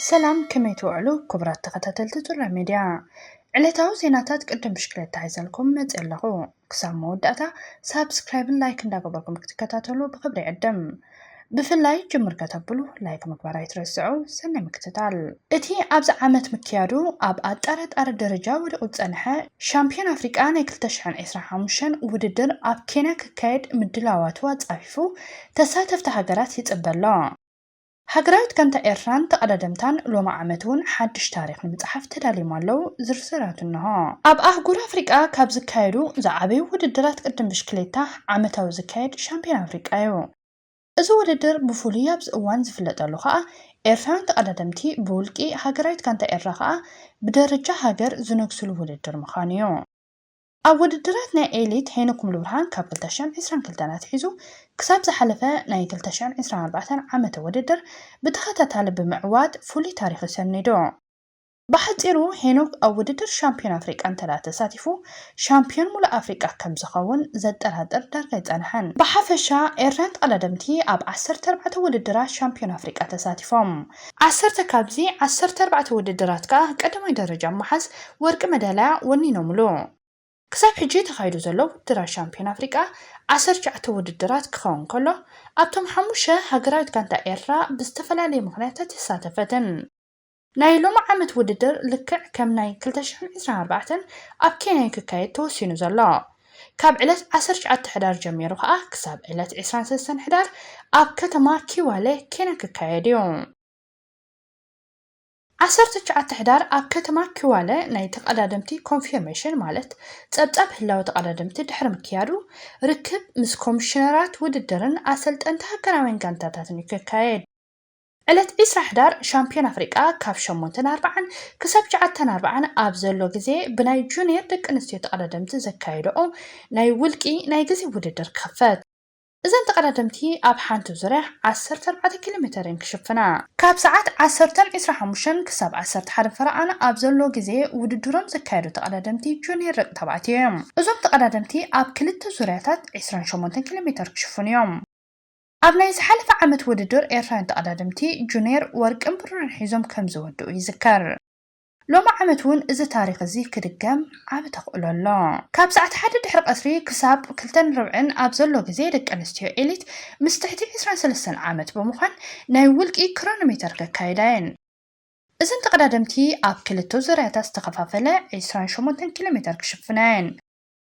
ሰላም ከመይ ትውዕሉ ክቡራት ተኸታተልቲ ጩራ ሚድያ ዕለታዊ ዜናታት ቅድም ብሽክለታ ሒዘልኩም መፅ ኣለኹ ክሳብ መወዳእታ ሳብስክራይብን ላይክ እንዳገበርኩም ክትከታተሉ ብክብሪ ዕድም ብፍላይ ጅምር ከተብሉ ላይክ ምግባር ኣይትረስዑ ሰናይ ምክትታል እቲ ኣብዚ ዓመት ምክያዱ ኣብ ኣጠራጣሪ ደረጃ ወዲቑ ዝፀንሐ ሻምፒዮን ኣፍሪቃ ናይ 2025 ውድድር ኣብ ኬንያ ክካየድ ምድላዋቱ ኣፃፊፉ ተሳተፍቲ ሃገራት ይጽበ ኣሎ። ሃገራት ጋንታ ኤርትራን ተቐዳደምታን ሎሚ ዓመት'ውን ሓድሽ ታሪኽ ንምጽሓፍ ተዳልዮም ኣለዉ፣ ዝርዝራቱ እነሆ። ኣብ ኣህጉር ኣፍሪቃ ካብ ዝካየዱ ዝዓበዩ ውድድራት ቅድድም ብሽክሌታ ዓመታዊ ዝካየድ ሻምፕዮና ኣፍሪቃ'ዩ። እዚ ውድድር ብፍሉይ ኣብዚ እዋን ዝፍለጠሉ ከኣ ኤርትራውያን ተቐዳደምቲ ብውልቂ፣ ሃገራዊት ጋንታ ኤርትራ ከኣ ብደረጃ ሃገር ዝነግሱሉ ውድድር ምዃኑ'ዩ። ኣብ ውድድራት ናይ ኤሊት ሄኖክ ሙሉብርሃን ካብ ክልተ ሽሕን ዕስራን ክልተን ኣትሒዙ ክሳብ ዝሓለፈ ናይ ክልተ ሽሕን ዕስራን ኣርባዕተን ዓመተ ውድድር ብተኸታታሊ ብምዕዋት ፍሉይ ታሪኹ ሰኒዱ። ብሓፂሩ ሄኖክ ኣብ ውድድር ሻምፒዮን ኣፍሪቃ እንተድኣ ተሳቲፉ ሻምፒዮን ሙሉእ ኣፍሪቃ ከምዝኸውን ዘጠራጥር ዳርጋ ኣይፀንሐን። ብሓፈሻ ኤርትራውያን ተቐዳደምቲ ኣብ ዓሰርተ ኣርባዕተ ውድድራት ሻምፒዮን ኣፍሪቃ ተሳቲፎም። ዓሰርተ ካብዚ ዓሰርተ ኣርባዕተ ውድድራት ከኣ ቀዳማይ ደረጃ ብምሓዝ ወርቂ መዳልያ ወኒኖምሉ። ክሳብ ሕጂ ተኻይዱ ዘሎ ውድድራት ሻምፕዮን ኣፍሪቃ ዓሰርተ ትሽዓተ ውድድራት ክኸውን ከሎ፣ ኣብቶም ሓሙሽተ ሃገራዊት ጋንታ ኤርትራ ብዝተፈላለየ ምኽንያታት ኣይሳተፈትን። ናይ ሎሚ ዓመት ውድድር ልክዕ ከም ናይ ክልተ ሽሕን ዕስራን ኣርባዕተን ኣብ ኬንያ'ዩ ክካየድ ተወሲኑ ዘሎ። ካብ ዕለት ዓሰርተ ትሽዓተ ሕዳር ጀሚሩ ከኣ ክሳብ ዕለት ዕስራን ሰለስተን ሕዳር ኣብ ከተማ ኪዋለ ኬንያ ክካየድ እዩ። ዓሰርተ ትሽዓተ ሕዳር ኣብ ከተማ ኪዋለ ናይ ተቐዳደምቲ ኮንፊርሜሽን ማለት ጸብጻብ ህላወ ተቐዳደምቲ ድሕሪ ምክያዱ ርክብ ምስ ኮሚሽነራት ውድድርን ኣሰልጠንቲ ሃገራውያን ጋንታታትን እዩ ክካየድ። ዕለት ዕስራ ሕዳር ሻምፕዮን ኣፍሪቃ ካብ ሸሞንተን ኣርብዓን ክሳብ ትሽዓተን ኣርብዓን ኣብ ዘሎ ግዜ ብናይ ጁንየር ደቂ ኣንስትዮ ተቐዳደምቲ ዘካየደኦ ናይ ውልቂ ናይ ግዜ ውድድር ክኽፈት። እዘን ተቐዳደምቲ ኣብ ሓንቲ ዙርያ ዓሰርተ ኣርባዕተ ኪሎ ሜተር እየን ክሽፍና። ካብ ሰዓት ዓሰርተን ዕስራ ሓሙሽተን ክሳብ ዓሰርተ ሓደን ፈረቓን ኣብ ዘሎ ግዜ ውድድሮም ዘካየዱ ተቐዳደምቲ ጁንየር ደቂ ተባዕትዮ እዮም። እዞም ተቐዳደምቲ ኣብ ክልተ ዙርያታት ዕስራን ሸሞንተን ኪሎ ሜተር ክሽፍኑ እዮም። ኣብ ናይ ዝሓለፈ ዓመት ውድድር ኤርትራውያን ተቐዳደምቲ ጁንየር ወርቅን ብሩርን ሒዞም ከምዝወድኡ ይዝከር። ሎሚ ዓመት እውን እዚ ታሪኽ እዚ ክድገም ዓቢ ተኽእሎ ኣሎ። ካብ ሰዓት ሓደ ድሕሪ ቀትሪ ክሳብ ክልተን ርብዕን ኣብ ዘሎ ግዜ ደቂ ኣንስትዮ ኤሊት ምስ ትሕቲ ዕስራን ሰለስተን ዓመት ብምዃን ናይ ውልቂ ክሮኖሜተር ከካይዳ እየን። እዘን ተቐዳደምቲ ኣብ ክልተ ዙርያታት ዝተኸፋፈለ ዕስራን ሸሞንተን ኪሎሜተር ክሽፍና እየን።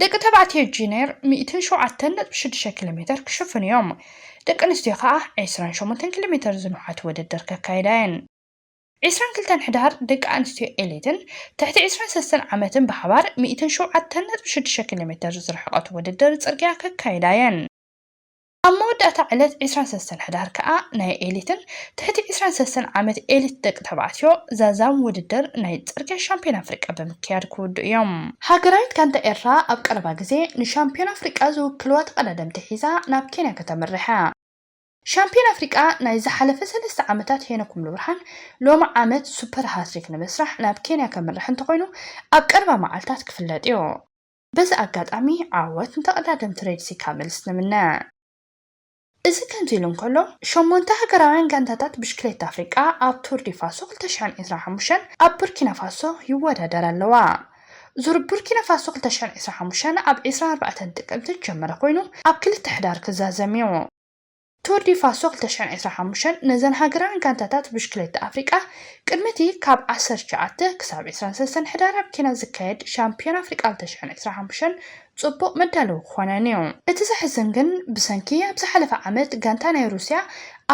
ደቂ ተባዕትዮ ጂኔር ሚእትን ሸውዓተን ነጥቢ ሽዱሽተ ኪሎ ሜተር ክሽፍኑ እዮም፣ ደቂ ኣንስትዮ ከኣ ዕስራን ሸሞንተን ኪሎ ሜተር ዝንውሓት ውድድር ከካይዳ እየን። ዕስራን ክልተን ሕዳር ደቂ ኣንስትዮ ኤሊትን ትሕቲ ዕስራን ሰለስተን ዓመትን ብሓባር ሚእትን ሸውዓተን ነጥቢ ሽዱሽተ ኪሎ ሜተር ዝርሕቐት ውድድር ጽርግያ ከካይዳ እየን። ኣብ መወዳእታ ዕለት ዕስራን ሰለስተን ሕዳር ከኣ ናይ ኤሊትን ትሕቲ ዕስራን ሰለስተን ዓመት ኤሊት ደቂ ተባዕትዮ ዛዛም ውድድር ናይ ጽርግያ ሻምፕዮን ኣፍሪቃ ብምክያድ ክውድኡ እዮም። ሃገራዊት ጋንታ ኤርትራ ኣብ ቀረባ ግዜ ንሻምፕዮን ኣፍሪቃ ዝውክልዋ ተቐዳደምቲ ሒዛ ናብ ኬንያ ከተምርሕ እያ። ሻምፕዮን ኣፍሪቃ ናይ ዝሓለፈ ሰለስተ ዓመታት ሄኖክ ሙሉብርሃን ሎሚ ዓመት ሱፐር ሃትሪክ ንምስራሕ ናብ ኬንያ ከምርሕ እንተኾይኑ ኣብ ቀረባ መዓልታት ክፍለጥ እዩ። በዚ ኣጋጣሚ ዓወት ንተቐዳደምቲ ሬድሲ ካምልስ ንምነ። እዚ ከምዚ ኢሉ እንከሎ፣ ሸሞንተ ሃገራውያን ጋንታታት ብሽክሌታ ኣፍሪቃ ኣብ ቱር ዲ ፋሶ ክልተ ሽሕን ዒስራን ሓሙሽተን ኣብ ቡርኪናፋሶ ይወዳደራ ኣለዋ። ዙር ቡርኪናፋሶ ክልተ ሽሕን ዒስራን ሓሙሽተን ኣብ ዕስራን ኣርባዕተን ጥቅምቲ ዝጀመረ ኮይኑ ኣብ ክልተ ሕዳር ክዛዘም'ዩ። ቱር ዲ ፋሶ ክልተ ሽሕን ዕስራን ሓሙሽተን ነዘን ሃገራውያን ጋንታታት ብሽክሌታ ኣፍሪቃ ቅድሚ እቲ ካብ ዓሰርተ ትሽዓተ ክሳብ ዕስራን ሰለስተን ሕዳር ኣብ ኬንያ ዝካየድ ሻምፕዮና ኣፍሪቃ ክልተ ሽሕን ዕስራን ሓሙሽተን ጽቡቕ መዳለዊ ክኾነን እዩ። እቲ ዘሕዝን ግን ብሰንኪ ኣብ ዝሓለፈ ዓመት ጋንታ ናይ ሩስያ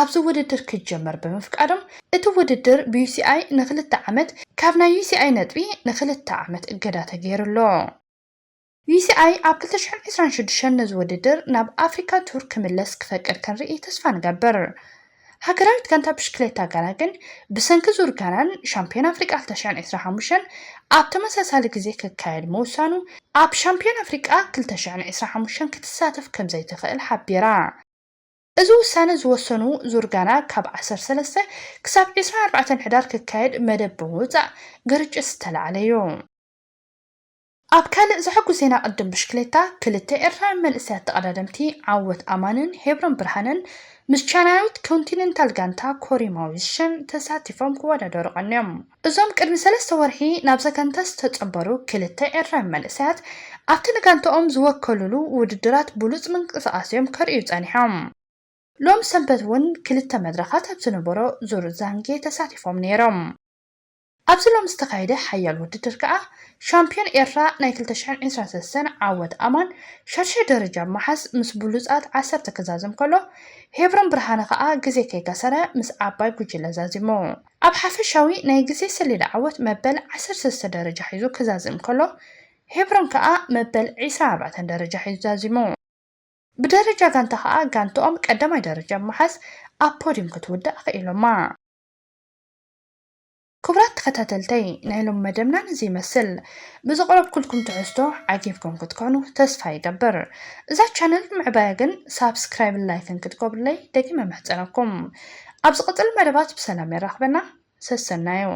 ኣብዚ ውድድር ክጀመር ብምፍቃዶም እቲ ውድድር ብዩሲኣይ ንክልተ ዓመት ካብ ናይ ዩሲኣይ ነጥቢ ንክልተ ዓመት እገዳ ተገይሩ ኣሎ። ዩሲኣይ ኣብ ክልተ ሽሕን ዕስራን ሽዱሽተን ነዚ ውድድር ናብ ኣፍሪካ ቱር ክምለስ ክፈቅድ ክንርኢ ተስፋ ንገብር። ሃገራዊት ጋንታ ብሽክሌታ ጋና ግን ብሰንኪ ዙር ጋናን ሻምፒዮን ኣፍሪቃ ክልተ ሽሕን ዕስራን ሓሙሽተን ኣብ ተመሳሳሊ ግዜ ክካየድ ምውሳኑ ኣብ ሻምፒዮን ኣፍሪቃ ክልተ ሽሕን ዕስራን ሓሙሽተን ክትሳተፍ ከምዘይትኽእል ሓቢራ። እዚ ውሳነ ዝወሰኑ ዙር ጋና ካብ ዓሰርተ ሰለስተ ክሳብ ዕስራን ኣርባዕተን ሕዳር ክካየድ መደብ ብምውፃእ ግርጭት ዝተላዕለ'ዩ። ኣብ ካልእ ዘሐጉስ ዜና ቅድድም ብሽክሌታ ክልተ ኤርትራውያን መንእሰያት ተቐዳደምቲ ዓወት ኣማንን ሄብሮን ብርሃነን ምስ ቻይናዊት ኮንቲነንታል ጋንታ ኮሪ ማዊዝሸን ተሳቲፎም ክወዳደሩ ቀንዮም። እዞም ቅድሚ ሰለስተ ወርሒ ናብዛ ጋንታ ዝተጸንበሩ ክልተ ኤርትራውያን መንእሰያት ኣብቲ ንጋንታኦም ዝወከሉሉ ውድድራት ብሉጽ ምንቅስቓስ'ዮም ከርእዩ ጸኒሖም። ሎሚ ሰንበት'ውን ክልተ መድረኻት ኣብ ዝነበሮ ዙር ዛንጌ ተሳቲፎም ነይሮም። ኣብዚ ሎሚ ዝተኻየደ ሓያል ውድድር ከኣ ሻምፕዮን ኤርትራ ናይ ክልተ ሽሕን ዕስራን ሰለስተን ዓወት ኣማን ሻድሻይ ደረጃ ብምሓዝ ምስ ብሉጻት ዓሰርተ ክዛዘም ከሎ ሄብሮን ብርሃነ ከኣ ግዜ ከይከሰረ ምስ ዓባይ ጉጅለ ዛዚሙ ኣብ ሓፈሻዊ ናይ ግዜ ሰሌዳ ዓወት መበል ዓሰርተ ሰለስተ ደረጃ ሒዙ ክዛዝም ከሎ ሄብሮን ከኣ መበል ዕስራን ኣርባዕተን ደረጃ ሒዙ ዛዚሙ። ብደረጃ ጋንታ ከኣ ጋንትኦም ቀዳማይ ደረጃ ብምሓዝ ኣብ ፖድዩም ክትውዳእ ኣኽኢሎማ። ክቡራት ተኸታተልተይ ናይ ሎሚ መደብና ነዚ ይመስል። ብዘቕረብኩልኩም ትሕዝቶ ዓጊብኩም ክትኮኑ ተስፋ ይገብር። እዛ ቻነል ንምዕባያ ግን ሳብስክራይብን ላይክን ክትገብሩለይ ደጊመ እምሕጸነኩም። ኣብ ዝቕጽል መደባት ብሰላም የራኽበና። ሰሰናዩ።